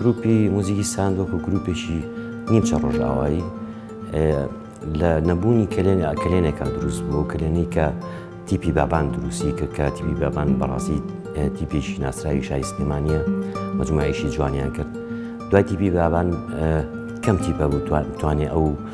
گروپی موزیکی ساند وەکو گروپێکی نیمچە ڕۆژاوایی لە نەبوونی کلێن کلێنێکا دروست بوو کلێنی کە تیپی بابان دروستی کرد کە تیپی بابان بەڕاستی تیپێکی ناسراوی شای سلێمانە مجموعیشی جوانیان کرد دوای تیپی بابان کەم تیپە بوو توانێ ئەو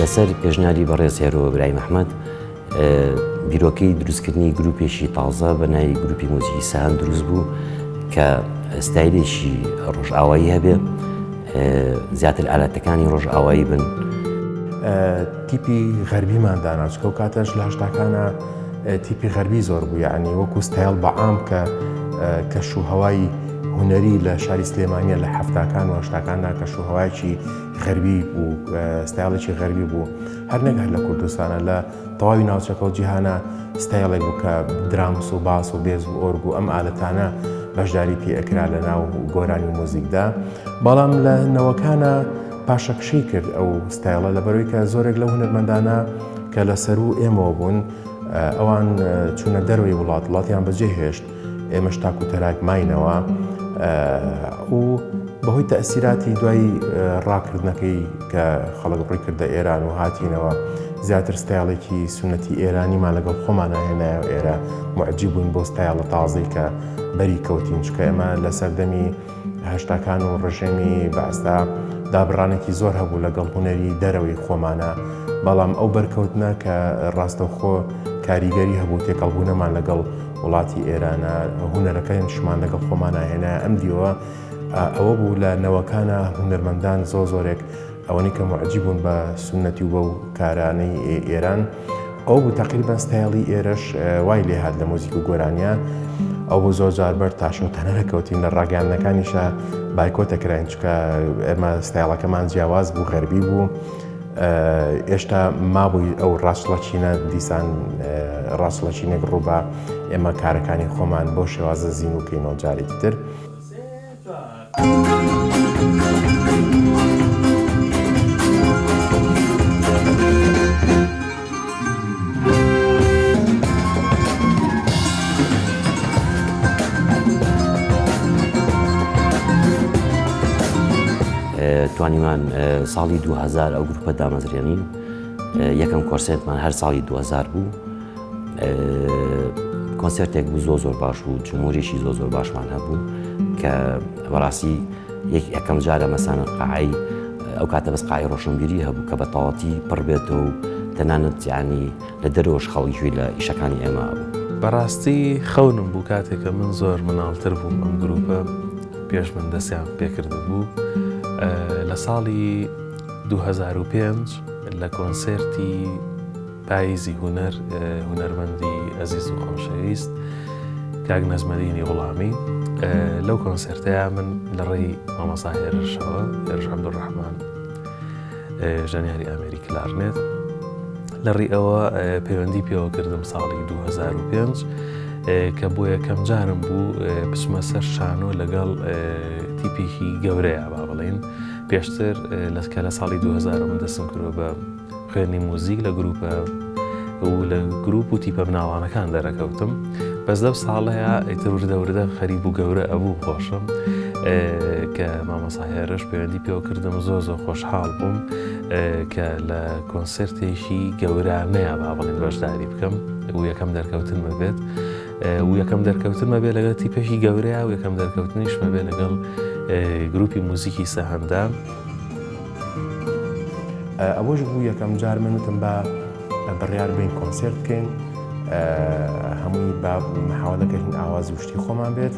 لەسەر پێشنیاری بەڕێز هێرۆ ئیبراهیم ئەحمەد بیرۆکەی دروستکردنی گروپێکی تازە بە ناوی گروپی مۆزیکی سەهەند دروست بوو کە ستایلێکی ڕۆژئاوایی هەبێ زیاتر ئالاتەکانی ڕۆژئاوایی بن تیپی غەربیمان دانا چکە و کاتەش لە هەشتاکانە تیپی غەربی زۆر بوو یعنی وەکو ستایل بە عام کە کەش و هەوای هوەری لە شاری سلێمانە لە هەفتاکان و هەشتاکاندا کەش و هەوایکی غەربی بوو ستایڵێکی غەربی بوو هەر نەگەر لە کوردستانە لە تەواوی ناوچەکە و جیهانە ستایڵێک بوو کە درامس و باس و بێز و ئۆرگ و ئەم ئالەتانە بەشداری پێئکرا لە ناو گۆرانی مۆزیکدا بەڵام لە نەوەکانە پاشەکشەی کرد ئەو ستایڵە لەبەرەوەی کە زۆرێک لەو هونەرمەندانە کە لە سەرو ئێمەوە بوون ئەوان چونە دەروی وڵات وڵاتیان بەجێ هێشت ئێمەش تاکو تەراک ماینەوە و بەهۆی تەسیراتی دوای ڕاکردنەکەی کە خەڵک ڕی کردە ئێران و هاتینەوە زیاتر ستایڵێکی سونەتی ئێرانیمان لەگەڵ خۆمان هێنایە ئێرە معجی بووین بۆ ستایڵە تازەی کە بەری کەوتین چکە ئێمە لە سەردەمی هەشتاکان و ڕژێمی بەعسدا دابڕانێکی زۆر هەبوو لەگەڵ هونەری دەرەوەی خۆمانا، بەڵام ئەو بەرکەوتنە کە ڕاستەوخۆ کاریگەری هەبوو تێکەڵبوونەمان لەگەڵ وڵاتی ئێرانا، هونەرەکەیمشمان لەگەڵ خۆمانا هێنایە ئەم دیوە ئەوە بوو لە نەوەکانا هونەرمەندان زۆر زۆرێک، ئەوەنەی کە موعجیب بوون بە سوننەتی و بەو کارانەی ئێران ئەو بوو تەقریبەن ستایڵی ئێرەش وای لێ هات لە مۆزیک و گۆرانیا ئەو بۆ زۆر جار بەر تاشۆتانە دەکەوتین لە ڕاگەاندنەکانیشە بایکۆتە کراین چکە ئێمە ستایڵەکەمان جیاواز بوو غەربی بوو. ئێشتا مابووی ئەو ڕاستڵەچینە دیسان ڕاستڵەچینێک ڕووبا ئێمە کارەکانی خۆمان بۆ شێوازە زین و کەینەوە جارێکی تر. توانیمان ساڵی دوو هەزار ئەو گروپە دامەزرێنین یەکەم کۆنسێرتمان هەر ساڵی دوو هەزار بوو کۆنسێرتێک بوو زۆر زۆر باش بوو جمهوریشی زۆر زۆر باشمان هەبوو کە بەڕاستی یەکی ئەەکەم جارە مەسانە قعی ئەو کاتە بەس قای ڕۆشنبیری هەبوو کە بە تەواتی پڕ بێتەوە و تەنانەت یانی لە دەرۆش خەڵکیوی لە ئیشەکانی ئێمە بوو. بەڕاستی خەونم بوو کاتێکە من زۆر مناڵتر بووم ئەم گروپە پێش من دەستیان پێکرد بوو لە ساڵی 2005 لە کۆنسێرتی پاییزی هونەر هونەرمەندی ئەزیز و خۆشەویست کاک نەجمەدینی غوڵامی لەو کۆنسرتەیە من لە ڕێی مامەسا هێرشەوە هێرش عەبدوڕەحمان ژەنیاری ئەمریک لارنێت لە ڕێ ئەوە پەیوەندی پێوە کردم ساڵی 2005 کە بۆ یەکەم جارم بوو بچمە سەر شانۆ لەگەڵ تیپێکی گەورەیە با بڵین پێشتر لەسکە لە ساڵی 2000 من دەسم کرۆ بە خوێندی موزیک لە گروپە و لە گروپ و تیپە بناوانەکان دەرەکەوتم بەس لەو ساڵەیە ئیتر وردە وردە خەریب و گەورە ئەبوو خۆشم کە مامەساهێرش پەیوەندی پێوە کردم زۆر زۆر خۆشحاڵ بووم کە لە کۆنسرتێکی گەورانەیە با بڵین بەشداری بکەم و یەکەم دەرکەوتنمە بێت و یەکەم دەرکەوتنمە بێ لەگەڵ تیپێکی گەورەیە و یەکەم دەرکەوتنیشمە بێ لەگەڵ گروپی موزیکی سەهندە. ئەوەش بوو یەکەم جار من وتم با بڕیار بەین کۆنسێرت بکەین هەمووی با محاوە دەکەین ئاوازی شتی خۆمان بێت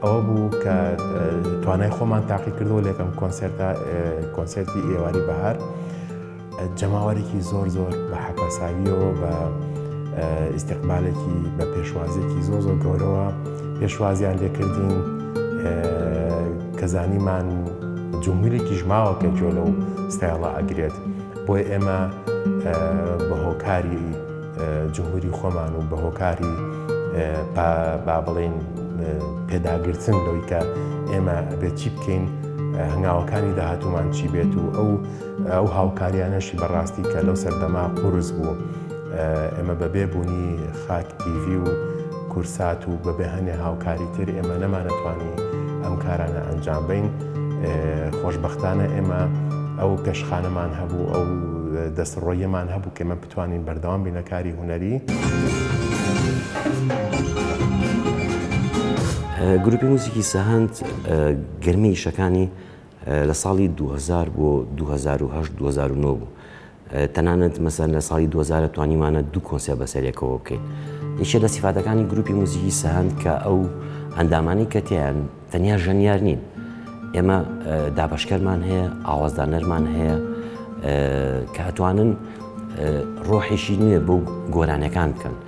ئەوە بوو کە توانای خۆمان تاقی کردەوە لەکەم کۆنسێرتا کۆنسێرتی ئێواری بەهار جەماوەرێکی زۆر زۆر بە حەپەساویەوە بە ئیسیقبالێکی بە پێشوازێکی زۆ زۆر گەورەوە پێشوازیان لێکردین کە زانیمان جمهوریکیش ماوە کە گوێ لەو ستایڵە ئەگرێت بۆیە ئێمە بە هۆکاری جمهوری خۆمان و بە هۆکاری با بڵێین پێداگرتن لەوەی کە ئێمە بێت چی بکەین هەنگاوەکانی داهاتومان چی بێت و ئەو ئەو هاوکاریانەشی بەڕاستی کە لەو سەردەما قورس بوو ئێمە بە بێ بونی خاک تیڤی و کورسات و بە بێ هەنێ هاوکاری تر ئێمە نەمانەتوانی ئەم کارانە ئەنجام بەین خۆشبەختانە ئێمە ئەو پێشخانەمان هەبوو ئەو دەست ڕۆیەمان هەبوو کێمە بتوانین بەردەوام بینەکاری هوەری. گروپی موزیکی سەهەند گەرمی ئیشەکانی لە ساڵی 2000 بۆ 2008 2009 بوو تەنانەت مەسەلەن لە ساڵی دوو هەزار توانیمانە دوو کۆنسێر بەسەریەکەوە بکەین یەکێ لە سیفاتەکانی گروپی موزیکی سەهەند کە ئەو ئەندامانی کە تیان تەنیا ژەنیار نین ئێمە دابشکەرمان هەیە ئاوازدانەرمان هەیە کە ئەتوانن ڕۆحێکی نوێ بۆ گۆرانەکان بکەن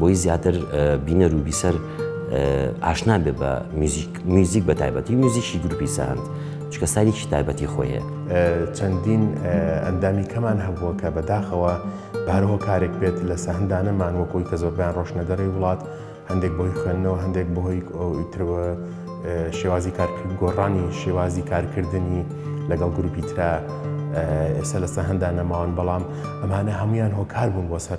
بۆی زیاتر بینەر و بیسەر ئاشنا بێ بە میوزیک بە تایبەتی میوزیکی گروپی ساند چکە ساریکی تایبەتی خۆی هەیە چەندین ئەندامی کەمان هەبووە کە بەداخەوە بارەوە کارێک بێت لە سەهندانەمان وەکۆی کە زۆربیان ڕۆشنەدەڕی وڵات هەندێک بۆی خوێندنەوە هەندێک بەهۆی ئەوترەوە شێوازی کارکرد گۆڕانی شێوازی کارکردنی لەگەڵ گروپی تررا ئێستا لەسە هەندانەماوان بەڵام ئەمانە هەمویان هۆکار بوون بۆ سەر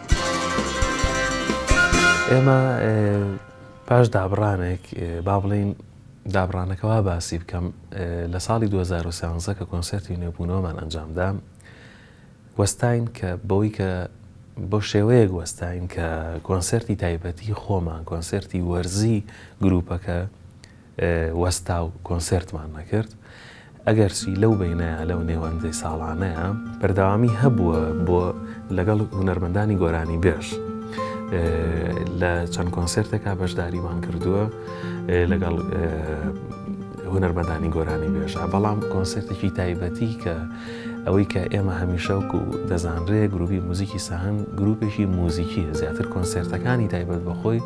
ئێمە پاش دابڕانێک با بڵین دابڕانەکە وا باسی بکەم لە ساڵی 2013 کە کۆنسرتی نوێبوونەوەمان ئەنجامدا وەستین کە بەوەی کە بۆ شێوەیەک وەستین کە کۆنسرتی تایبەتی خۆمان کۆنسرتی وەرزی گروپەکە وەستا و کۆنسێرتمان نەکرد. ئەگەرچی لەو بەینەیە، لەو نێوەندەی ساڵانەیە، بەردەوامی هەبووە بۆ لەگەڵ هونەرمەندانی گۆرانیبێژ لە چەند کۆنسێرتێکا بەشداریمان کردووە لەگەڵ هونەرمەندانی گۆرانیبێژا، بەڵام کۆنسێرتێکی تایبەتی کە ئەوەی کە ئێمە هەمیشە وەکوو دەزانرێ گرووپی موزیکی سەهەند گرووپێکی موزیکییە زیاتر کۆنسێرتەکانی تایبەت بە خۆی،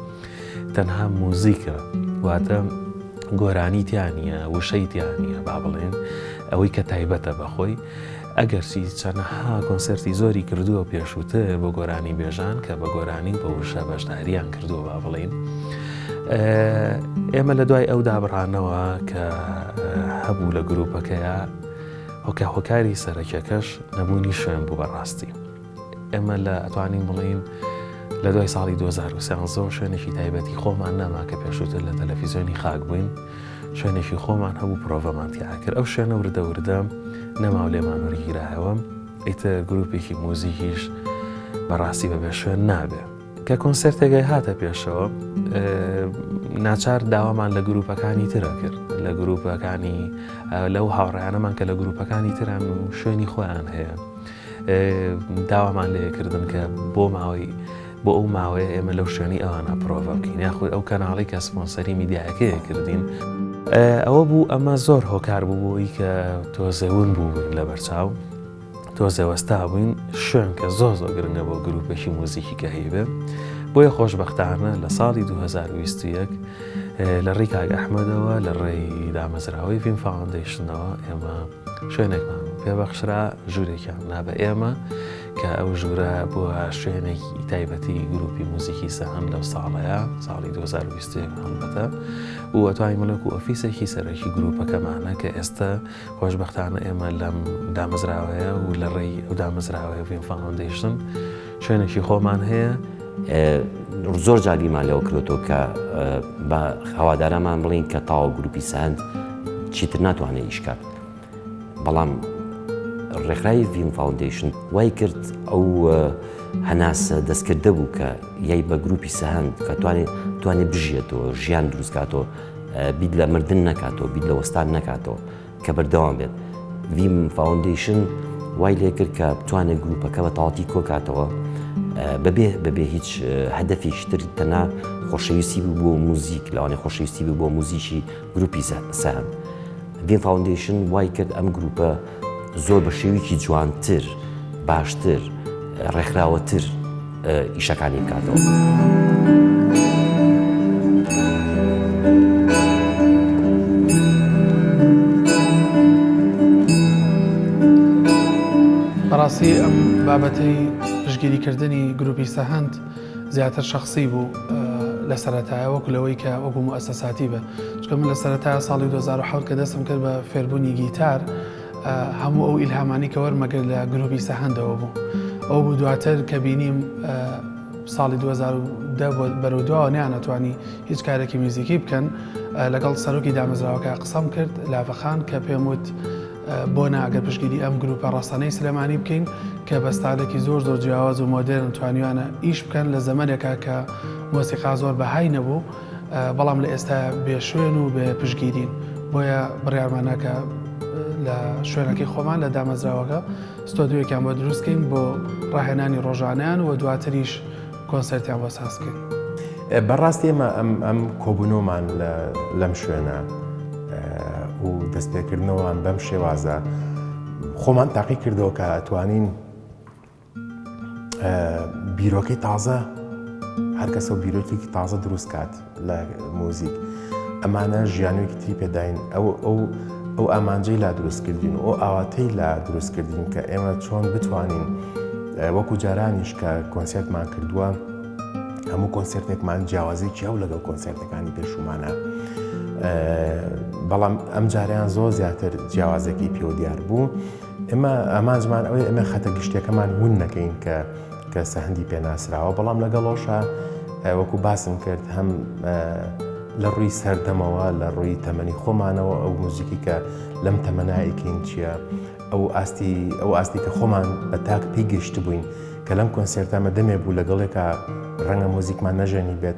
تەنها موزیکە واتە گۆرانی تیا نییە وشەی تیا نییە با بڵێن ئەوەی کە تایبەتە بەخۆی ئەگەرچی چەنەها کۆنسرتی زۆری کردووە پێشووتر بۆ گۆرانی بێژان کە بە گۆرانی بە وشە بەشداریان کردووە با بڵین ئێمە لە دوای ئەو دابڕانەوە کە هەبوو لە گروپەکەیە هۆکە هۆکاری سەرەکیەکەش نەبوونی شوێن بوو بەڕاستی ئێمە لە ئەتوانین بڵێین لە دوای ساڵی 2013 شوێنێکی تایبەتی خۆمان نەما کە پێشووتر لە تەلەفیزیۆنی خاک بووین شوێنێکی خۆمان هەبوو پرۆڤەمان تیاکرد ئەو شوێنە وردە وردە نەماو لێمان وەرگیرایەوە ئیتە گروپێکی موزیکیش بەڕاستی بەبێ شوێن نابێ کە کۆنسرتێگەی هاتە پێشەوە ناچار داوامان لە گروپەکانی ترە کرد لە گروپەکانی لەو هاوڕیانەمان کە لە گروپەکانی تران و شوێنی خۆیان هەیە داوامان لێ کردن کە بۆ ماوەی بۆ ئەو ماوەیە ئێمە لەو شوێنی ئەوانە پرۆڤە بکەین یاخود ئەو کەناڵی کە سپۆنسەری میدیایەکەیە کردین ئەوە بوو ئەمە زۆر هۆکار بوو بۆی کە تۆزەون بوو لە بەرچاو تۆزەوەستا بووین شوێن کە زۆر زۆر گرنگە بۆ گروپێکی موزیکی کە هەیبێ بۆیە خۆشببختانە لە ساڵی 2021 لە ڕێی کاگ ئەحمەدەوە لە ڕێی دامەزراوەی فیلم فاوندیشنەوە ئێمە شوێنێکمان پێبەخشرا ژوورێکیان نا بە ئێمە کە ئەو ژوورە بووە شوێنێکی تایبەتی گروپی موزیکی سەهەم لەو ساڵەیە ساڵی 2020بەتە وەتوانی ملک و ئۆفیسێکی سەرەکی گروپەکەمانە کە ئێستا خۆشببختانە ئێمە لەم دامەزراوەیە و لە ڕێی ئەو دامەزراوەیە فیلم فاندیشن شوێنێکی خۆمان هەیە. زۆر جار بیرمان لەوە کردۆتەوە کە بە هەوادارانمان بڵێین کە تاوە گروپی ساند چیتر ناتوانێت ئیش کات. بەڵام ڕێکخراوی ڤیم فاوندیشن وای کرد ئەو هەناسە دەستکردە بوو کە یای بە گروپی سەهند کە توانێت توانێت بژێتەوە ژیان دروستکاتەوە بیت لە مردن نکاتەوە بیت لە وەستان نکاتەوە. کە بەردەوام بێت ڤیم فاوندەیشن وای لێکرد کە بتوانێت گروپەکە بە تاڵتی کۆکاتەوە بەبێ بەبێ هیچ هەدەفێکی تر تەنا خۆشەویستی بوو بۆ موزیک لەوانێ خۆشەویستی بوو بۆ موزیکی گروپی سەهند ڤیم فاوندەیشن وای کرد ئەم گروپە زۆر بە شێویکی جوانتر باشتر ڕێکخراوەتر ئیشەکانی بکاتەوەڕاستی ئەم بابەتەی پشگیریکردنی گروپی سەهند زیاتر شخصی بوو لە سەرەتایە وەکو لەوەی کە وەکو ئەسەساتی بە چکە من لە سەرەتا ساڵی 2010 کە دەستم کرد بە فێربوونی گیتار هەموو ئەو ئیلهامانی کە وەرمەگرت لە گروپی سەهندەوە بوو ئەو بوو دواتر کە بینیم ساڵی 2010 بەرەودواوە نیانەتوانی هیچ کارێکی میزیکی بکەن لەگەڵ سەرۆکی دامەزراوەکە قسەم کرد لاڤەخان کە پێم وت بۆ ناگە پشگیری ئەم گروپە ڕاستانەی سلێمانی بکەین کە بەستانێکی زۆر زۆر جیاواز و مۆدرن توانیوانە ئیش بکەن لە زەمەنێکە کە مۆسیقا زۆر بەهای نەبوو بەڵام لە ئێستا بێ شوێن و بێ پشگیرین بۆیە بڕارمانەکە لە شوێنەکەی خۆمان لە دامەزراوەکە ستۆدیۆێکیان بۆ دروستکەین بۆ ڕاهێنانی ڕۆژانیان و دواتریش کۆنسەرتیان بۆ سازکەین بەڕاستی ئێمە ئەم ئەم کۆبوونەوەمان لەم شوێنە و دەستپێکردنەوەوان بەم شێوازە خۆمان تاقی کردەوە کە ئەتوانین بیرۆکەی تازە هەرکەسە و بیرۆکێکی تازە دروست کات لە مۆزیک ئەمانە ژیانێکی تری پێداین ئەو ئەو ئەو ئامانجەی لا دروستکردین و ئاواتەی لا دروستکردین کە ئێمە چۆن بتوانین وەکو جارانیش کە کۆنسرتمان کردووە هەموو کۆنسرتێکمان جیاوازێکی ئەو لەگەڵ کۆنسرتەکانی پێشومانە بەڵام ئەم جاریان زۆر زیاتر جیاوازەکەی پێوە دیار بوو ئێمە ئامانجمان ئەوەیە ئێمە خەتە گشتیەکەمان ون نەکەین کە کە سەهندی پێناسراوە بەڵام لەگەڵۆشە وەکو باسم کرد هەم لە ڕووی سەردەمەوە لە ڕووی تەمەنی خۆمانەوە ئەو موزیکی کە لەم تەمەنایکین چییە ئەو ئاستی ئەو ئاستی کە خۆمان بە تاک پێی گەشت بووین کە لەم کۆنسێرتامە دەمێ بوو لەگەڵێکە ڕەنگە مۆزیکمان نەژەنی بێت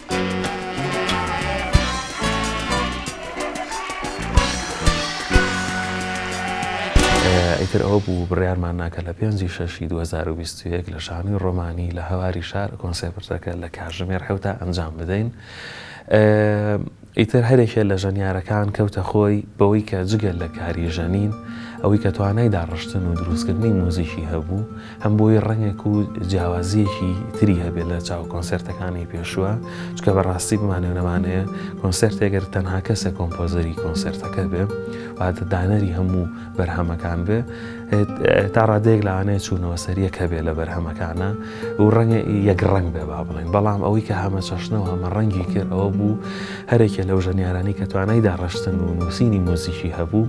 ئیتر ئەوە بوو بڕیارمان نا کە لە پێنج ی شەش ی دوو هەزار و بیست و یەک لە شانۆی ڕۆمانی لە هەواری شار کۆنسێپرتەکە لە کاژمێر حەوتا ئەنجام بدەین. ئیتر هەرێکێ لە ژەنیارەکان کەوتە خۆی بەوەی کە جگە لە کاری ژەنین ئەوەی کە توانای داڕشتن و دروستکردنی موزیکی هەبوو، هەم بۆی ڕەنگێک و جیاوازیەکی تری هەبێت لە چاو کۆنسرتەکانی پێشووە چکە بەڕاستی بمانێ نەمانەیە کۆنسرتێگەر تەنها کەسە کۆمپۆزەری کۆنسرتەکە بێ واتە دانەری هەموو بەرهەمەکان بێ تا ڕادێک لاانێ چوونەوە سەریەک هەبێ لە بەرهەمەکانە و ڕەنگە یەک ڕنگ بێ با بڵێن بەڵام ئەوەی کە هەمە چەشنەوە هەمە ڕەنگی کرد ئەوە بوو هەرێکە لەو ژەنیارانی کە توانای داڕشتن و نووسینی مۆزیکی هەبوو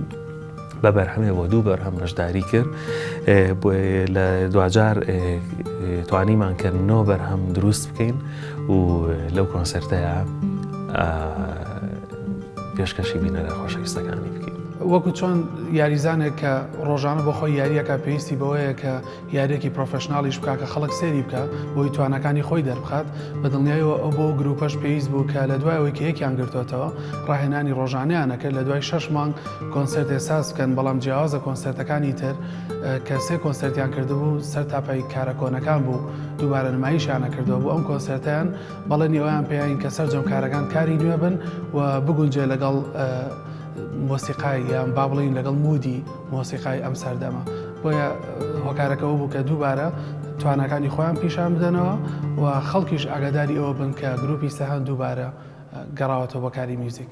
بە بەرهەمێ بۆ دوو بەرهەم بەشداری کرد لە دواجار توانیمان کە نۆ بەرهەم دروست بکەین و لەو کۆنسرتەیە پێشکەشی بینەرە خۆشەویستەکانی بکەین وەکو چۆن یاریزانێک کە ڕۆژانە بەخۆی یاریەکە پێویستی بەوەیە کە یاریەکی پرۆفێشناڵیش بکا کە خەڵک سەیری بکا بۆی تواناکانی خۆی دەربخات بە دڵنیایەوە ئەو بۆ گروپەش پێویست بوو کە لە دوای ئەوەی کە یەکیان گرتۆتەوە ڕاهێنانی ڕۆژانەیانە کرد لە دوای شەش مانگ کۆنسێرتێ ساز بکەن بەڵام جیاوازە کۆنسێرتەکانی تر کە سێ کۆنسێرتیان کردبوو سەر تاپای کارە کۆنەکان بوو دووبارە نمایشیانە کردەوە بۆ ئەم کۆنسێرتیان بەڵێنی ئەویان پێیان کە سەرجەم کارەکان کاری نوێ بن و بگونجێ لەگەڵ مۆسیقای یان با بڵین لەگەڵ مودی مۆسیقای ئەم سەردەمە. بۆیە هۆکارەکە ئەوە بوو کە دووبارە تواناکانی خۆیان پیشان بدەنەوە و خەڵکیش ئاگاداری ئەوە بن کە گروپی سەهەند دووبارە گەڕاوەتەوە بۆ کاری میوزیک.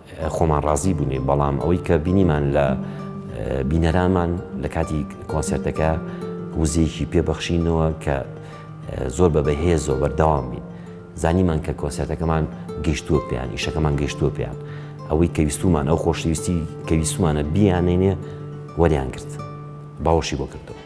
خۆمان ڕازی بووین بەڵام ئەوەی کە بینیمان لە بینەرامان لە کاتی کۆنسێرتەکە وزەیەکی پێ بەخشینەوە کە زۆر بە بەهێزەوە بەردەوام بین زانیمان کە کۆنسێرتەکەمان گەشتووە پێیان ئیشەکەمان گەشتووە پێیان ئەوەی کە ویستومان ئەو خۆشەویستی کە ویستمانە بیانێنێ وەریان گرت باوەشی بۆ کردەوە.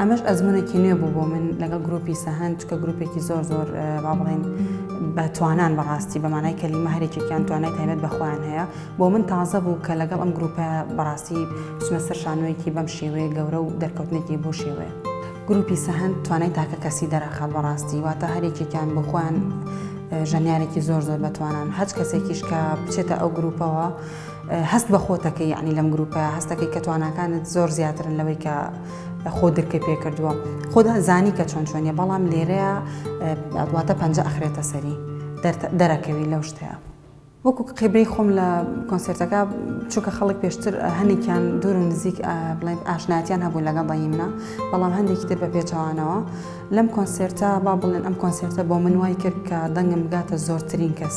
ئەمەش ئەزمونێکی نوێ بوو بۆ من لەگەڵ گروپی سەهند چکە گروپێکی زۆر زۆر با بڵێن بە توانان بەڕاستی بەمانای کەلیمە هەرێکێکیان توانای تایبەت بەخۆیان هەیە بۆ من تازە بوو کە لەگەڵ ئەم گروپە بەڕاستی بچمە سەر شانۆیەکی بەم شێوەیە گەورە و دەرکەوتنێکی بۆ شێوەیە. گروپی سەهەند توانای تاکە کەسی دەرەخات بەڕاستی واتە هەرێکێکیان بۆ خۆیان ژەنیارێکی زۆر زۆر بەتوانان هەچ کەسێکیش کە بچێتە ئەو گروپەوە هەست بە خۆتەکە یعنی لەم گروپە هەستەکەی کە تواناکانت زۆر زیاترن لەوەی کە خۆ درکە پێ کردووە خۆدا زانی کە چۆن چۆنیە بەڵام لێرەیە دواتە پەنج ئەخرێتە سەری دەرەکەوی لەو شتەیە. وەکو کقیبەی خۆم لە کۆنسێرتەکە چونکە خەڵک پێشتر هەنێکیان دوور و نزیک بڵێن ئاشناتیان هەبوو لەگەڵ بەی منە بەڵام هەندێکی تر بە پێچەوانەوە لەم کۆنسێرتە با بڵێن ئەم کۆنسێرتە بۆ من وای کرد کە دەنگم بگاتە زۆرترین کەس.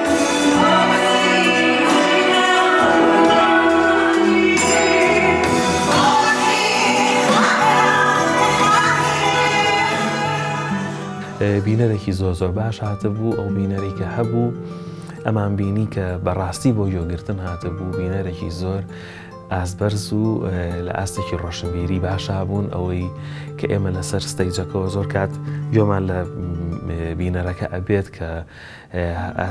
بینەرێکی زۆر زۆر باش هاتبوو ئەو بینەری کە هەبوو ئەمان بینی کە بەڕاستی بۆ یۆگرتن هاتبوو بینەرێکی زۆر ئاسبەرز و لە ئاستێکی ڕۆشنبیری باشا بوون ئەوەی کە ئێمە لەسەر ستەیجەکەەوە زۆر کات گۆمان لە بینەرەکە ئەبێت کە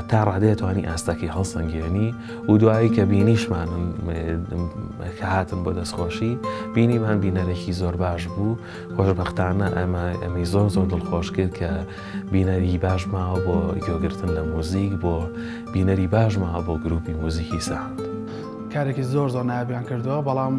تا ڕادەیە توانی ئاستەکەی هەڵسەنگێنی و دوایی کە بینیشمان کە هاتن بۆ دەستخۆشی بینیمان بینەرێکی زۆر باش بوو خۆشببختانە ئەمە ئەمی زۆر زۆر دڵخۆش کرد کە بینەری باش ماوە بۆ گوێگرتن لە موزیک بۆ بینەری باش ماوە بۆ گروپی موزیکی ساند کارێکی زۆر زۆر نابیان کردووە بەڵام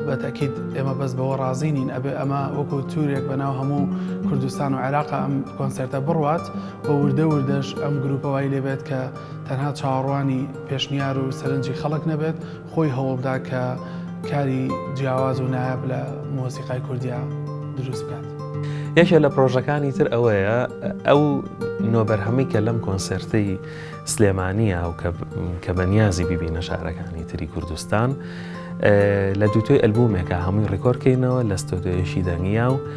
بەتەکیت ئێمە بەس بەوە ڕازی نین ئەبێ ئەمە وەکو تورێک بەناو هەموو کوردستان و عێراق ئەم کۆنسرتە بڕوات و وردە وردەش ئەم گروپە وای لێبێت کە تەنها چاوەڕوانی پێشنیار و سەرنجی خەڵک نەبێت خۆی هەوڵدا کە کاری جیاواز و نایاب لە مۆسیقای کوردیا دروست بکات. یەکێ لە پرۆژەکانی تر ئەوەیە ئەو نۆبەرهەمی کە لەم کۆنسرتی سلێمانیە و کە بەنیازی ببینە شارەکانی تری کوردستان لە دووتۆی ئەلبومێکە هەمووی ڕیکۆرکەینەوە لە ستۆدۆیەشی دەنگیا و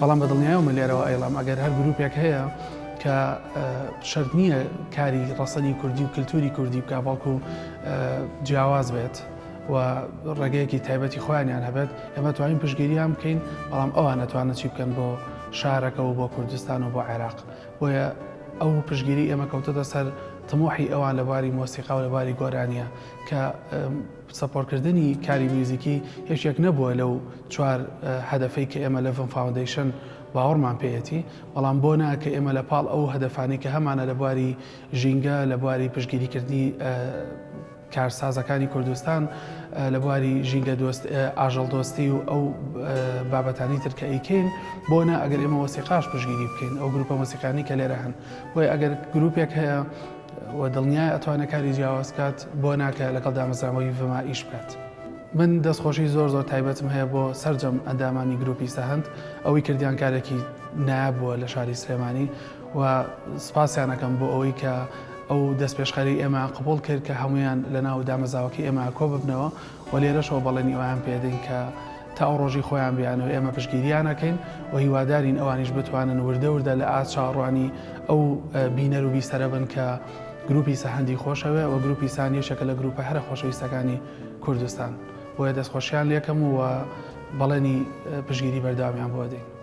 بەڵام بە دڵنیایەوەمە لێرەوە ئەیڵام ئەگەر هەر گروپێک هەیە کە شەرت نییە کاری ڕەسەنی کوردی و کللتوری کوردی بکە بەڵکو جیاواز بێت و ڕێگەیەکی تایبەتی خۆیانیان هەبێت ئێمە توانین پشگیریان بکەین بەڵام ئەوان نەتوانە چی بکەن بۆ شارەکە و بۆ کوردستان و بۆ عێراق بۆیە ئەو پشگیری ئێمە کەوتەتە سەر تمۆحی ئەوان لە باری مۆسیقا و لە باری گۆرانیە کە سپۆرکردنی کاری میوزیکی یەکێک نەبووە لەو چوار هەدەفەی کە ئێمە لە ڤم فاوندەیشن باوەڕمان پێیەتی، بەڵام بۆ نا کە ئێمە لە پاڵ ئەو هەدەفانەی کە هەمانە لە بواری ژینگە، لە بواری پشتگیریکردنی کارسازەکانی کوردستان، لە بواری ژینگە دۆست، ئاژەڵ دۆستی و ئەو بابەتانی تر کە ئەیکەین، بۆ نا ئەگەر ئێمە وەسیقاش پشتگیری بکەین، ئەو گروپە مۆسیقانەی کە لێرە هەن، بۆیە ئەگەر گروپێک هەیە، و دڵنیایە ئەتوانێت کاری جیاواز بکات بۆ ناکە لەگەڵ دامەزراوەی ڤما ئیش بکات. من دەست خۆشی زۆر زۆر تایبەتم هەیە بۆ سەرجەم ئەندامانی گروپی سەهەند ئەوەی کردیان کارێکی نایاب بووە لە شاری سلێمانی و سپاسیان ئەکەم بۆ ئەوەی کە ئەو دەستپێشخەری ئێمەیان قبوڵ کرد کە هەموویان لە ناو دامەزاوەکەی ئێمە کۆ ببنەوە و لێرەشەوە بەڵێنی ئەوەیان پێدەین کە تا ئەو ڕۆژەی خۆیان بیانەوێت ئێمە پشتگیریان ئەکەین و هیوادارین ئەوانیش بتوانن وردە وردە لە ئاست چاوەڕوانی ئەو بینەر و بیسەرە بن کە گروپی سە هەندی خۆشەوێ و گروپی سان یەکێکە لە گروپە هەرە خۆشەویستەکانی کوردستان بۆیە دەستخۆشیان لێکەم و بەڵێنی پشتگیری بەردەوامیان بۆ ئەدەین.